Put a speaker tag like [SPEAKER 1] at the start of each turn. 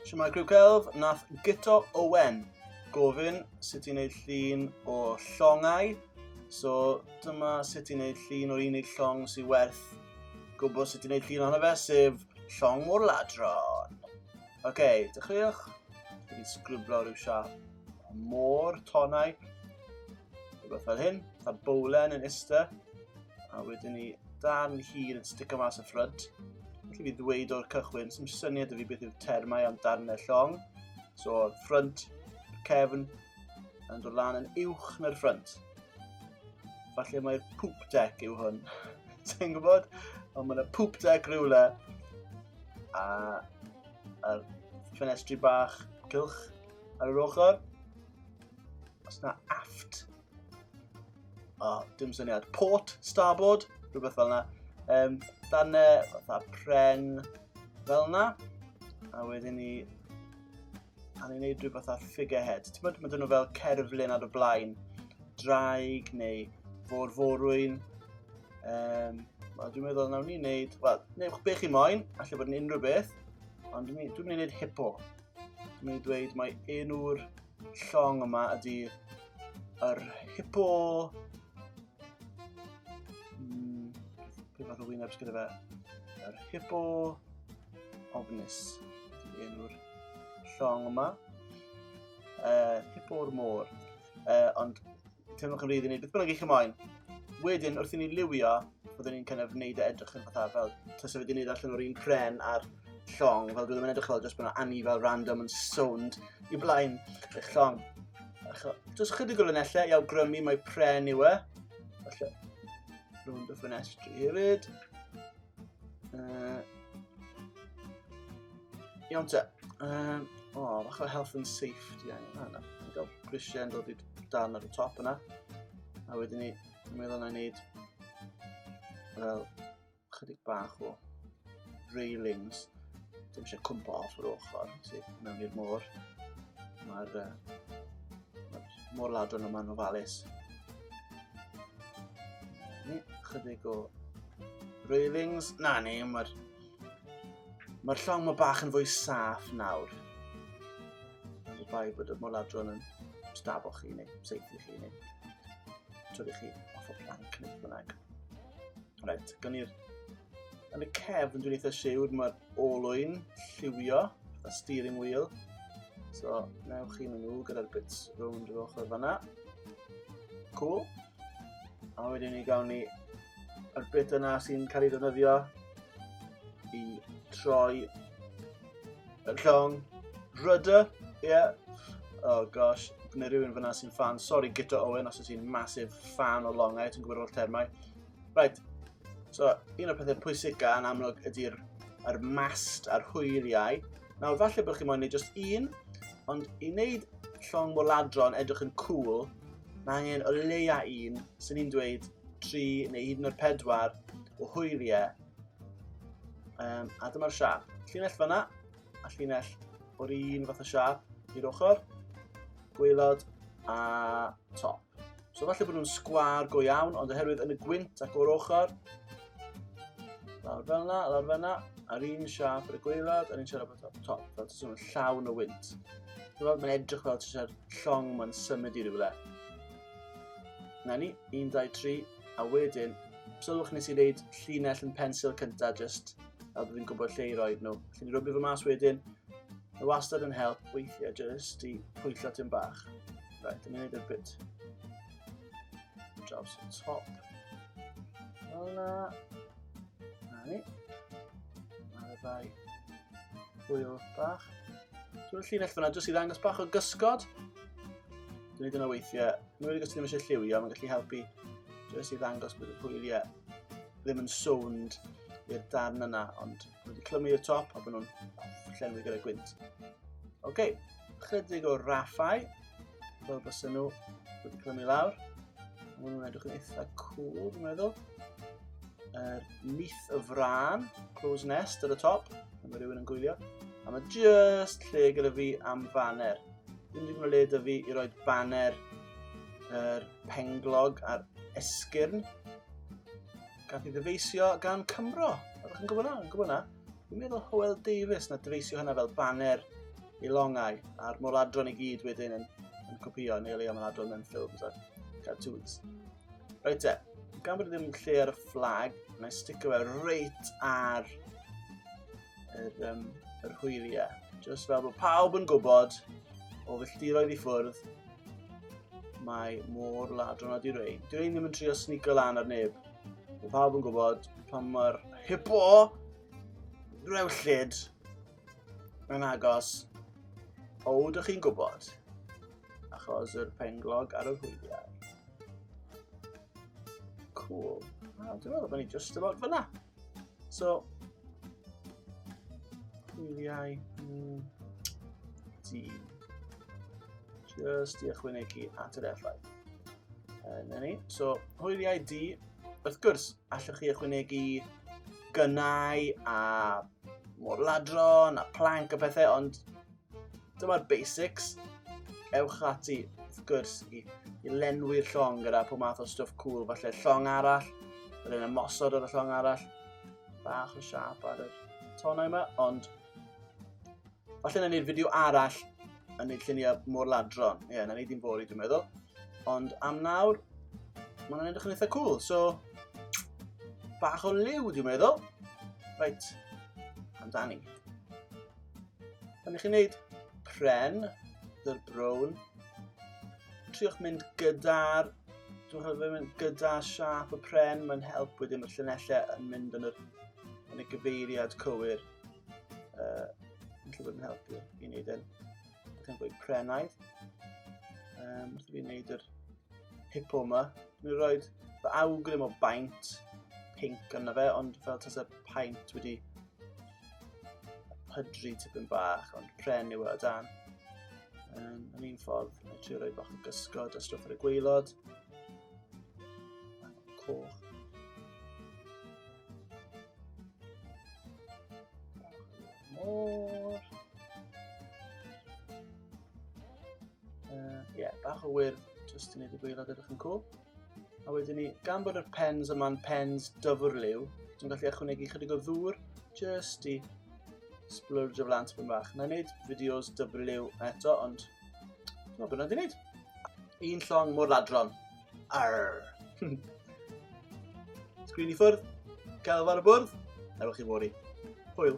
[SPEAKER 1] Siamai Criw Celf, nath Gito Owen gofyn sut i'n neud llun o llongau. So dyma sut i'n neud llun o'r unig llong sy'n werth gwybod sut i'n neud llun ohono fe, sef llong o'r ladron. Oce, okay, dechreuwch. Dwi'n sgrwblo rhyw siap. Môr, tonau, rhywbeth fel hyn, a bowlen yn ista, a wedyn ni dan hir yn stico mas y ffryd. Felly fi ddweud o'r cychwyn, sy'n syniad y fi beth yw'r termau am darnau llong. So, ffryd, cefn, yn dod lan yn uwch na'r ffryd. Falle mae'r poop deck yw hwn. Ti'n gwybod? Ond mae yna poop deck rhywle. A, a ffenestri bach, cylch, Ar yr ochr. Os na aft. O, oh, dim syniad. Port, starboard, rhywbeth fel yna. Um, dan e, fatha pren fel yna. A wedyn ni... A ni'n neud rhywbeth fatha figurehead. Ti'n bod, mae dyn nhw fel cerflun ar y blaen. Draig neu fôr forwyn. Um, Wel, dwi'n meddwl nawn ni wneud... Wel, neu be chi moyn, allai bod yn unrhyw beth. Ond dwi'n mynd i wneud hippo. Dwi'n mynd i dweud mae enw'r llong yma ydy yr hippo... Mm, Pwy fath o wyneb sgyda fe? Yr hippo ofnus ydy enw'r llong yma. Uh, hippo'r môr. Uh, ond Cymrwch yn rhydd i wneud beth bynnag eich ymlaen. Wedyn, wrth i ni liwio, byddwn ni'n kind of wneud e edrych yn fatha fel tasa wedi wneud allan o'r un pren a'r llong, fel byddwn yn edrych fel jyst bod yna anni fel random yn sownd i blaen eich llong. Jyst chydig o linellau i awgrymu mae pren yw e. Felly, rhwng dy ffenestri hefyd. Uh, iawn te. Um, o, oh, bach o health and safety angen. Ah, na, gael grisiau yn dod i'r dan ar y top yna. A wedyn ni, mi oedden ni'n neud fel chydig bach o railings. Dim eisiau cwmpa off yr ochr, sef mewn i'r môr. Mae'r uh, ma môr ladron yma yn ofalus. Ni, chydig o railings. Na ni, mae'r Mae'r llong ma bach yn fwy saff nawr. Ond y bai bod y moladron yn stabwch chi neu seithi chi neu trwy chi off o planc neu bynnag. Rhaid, gan i'r... Yn y cefn dwi'n eitha siwr mae'r olwyn lliwio, y steering wheel. So, newch chi mynd nhw gyda'r bits rownd yr ochr fanna. Cool. A wedyn ni gawn ni yr bit yna sy'n cael ei ddefnyddio i troi y llong rydder, ie. Yeah. Oh gosh, neu rhywun fyna sy'n fan. Sorry Gita Owen os ydych ti'n massive fan o longau, ti'n gwybod o'r termau. Right, so un o'r pethau pwysica yn amlwg ydy'r er mast a'r hwyliau. Nawr, falle bod chi'n moyn neud just un, ond i wneud llong moladron edrych yn cool, Mae angen o leia un, sy'n ni'n dweud tri neu hyd yn oed pedwar o hwyliau. Um, a dyma'r siap. Llinell fyna, a llinell o'r un fath o siap i'r ochr, gweilod a top. So falle bod nhw'n sgwar go iawn, ond oherwydd yn y gwynt ac o'r ochr, Lawr fel yna, lawr fel yna, a'r un siap ar y gweilad, a'r un siap ar y top, fel ti'n swnio'n llawn o wynt. Dwi'n mae'n edrych fel ti'n llong mae'n symud i rywle. Na ni, 1, 2, 3, a wedyn, sylwch nes i wneud llinell yn pensil cyntaf, just a byddwn i'n gwybod lle i roi nhw. Felly ni rwbio fy mas wedyn, y wastad yn help weithiau just i pwyllo ti'n bach. Right, dyna ni'n gwneud y bit. Draws y top. Fel na. Na ni. Mae'r ddau hwyl bach. Dwi'n llinell fyna, dwi'n sydd ddangos bach o gysgod. Dwi'n ei dyna weithiau. Dwi'n wedi gysgod ddim eisiau lliwio, mae'n gallu helpu. Dwi'n sydd ddangos bod y hwyliau ddim yn sownd i'r darn yna, ond Mae wedi clymu y top a bod nhw'n llenwi gyda gwynt. Oce, okay. chydig o raffau, fel bys nhw wedi clymu lawr. Mae nhw'n edrych yn eitha cool, dwi'n meddwl. Er, nith y fran, close nest ar y top, a mae rhywun yn gwylio. A mae just lle gyda fi am faner. Dwi'n ddim yn le da fi i roi baner yr er penglog a'r esgyrn. Gath i ddyfeisio gan Cymro. Ydych chi'n gwybod na? Yn gwybod na? Dwi'n meddwl Howell Davis na dyfeisio hynna fel banner i longau a'r moladron i gyd wedyn yn, yn copio neu leia moladron mewn ffilms a cartoons. Reit e, gan bod ddim lle ar y fflag, mae'n sticio fe reit ar yr, um, yr hwyliau. Just fel bod pawb yn gwybod o filltiroedd i ffwrdd, mae môr ladron a di-rein. Di-rein ddim yn trio snigo lan ar neb. Mae pawb yn gwybod pan mae'r hippo rewllyd yn agos. O, ydych chi'n gwybod? Achos yr penglog ar y hwyliau. Cool. Wel, dwi'n meddwl bod ni just about fyna. So, cliwiau mm, di just i ychwanegu at yr effaith. Yn ni. So, hwyliau di, wrth gwrs, allwch chi ychwanegu gynnau a morladron a planc a bethau, ond Dyma'r basics. Ewch ati, wrth gwrs, i, i lenwi'r llong gyda pob math o stwff cool, falle llong arall, yr un ymosod ar y llong arall, bach o siap ar y tonau yma, ond falle na ni'r fideo arall yn neud lluniau mor ladron. Ie, yeah, na ni ddim fori, dwi'n meddwl. Ond am nawr, mae'n hwnna'n edrych yn eitha cool, so... Bach o liw, dwi'n meddwl. Reit, amdani. Pan ych chi'n gwneud pren, dy'r brown, triwch mynd gyda'r dwi'n rhaid mynd gyda siap y pren, mae'n help wedyn mae'r llunellau yn mynd yn, yr, yn y gyfeiriad cywir. Uh, yn lle bod yn helpu i wneud yn beth yn gweud prenaidd. Um, wrth i fi wneud yr hipo yma, dwi'n rhoi fy awgrym o baint pink yna fe, ond fel tas y paint wedi pydru tipyn bach, ond pren yw e o dan. Um, yn un ffordd, mae trio rhoi bach o gysgod a stwff ar y gweilod. Coch. Môr. Uh, yeah, bach o wir, jyst i wneud y gweilod edrych yn cool. A wedyn ni, gan bod yr pens yma'n pens dyfwr liw, dwi'n gallu ychwanegu chydig o ddŵr just i splurge o flant byn bach. Na i wneud fideos dyfwr liw eto, ond dwi'n meddwl bod yna di wneud. Un llong mor ladron. Arr. Sgrin i ffwrdd, gael ar y bwrdd, ewch i wori. Hwyl.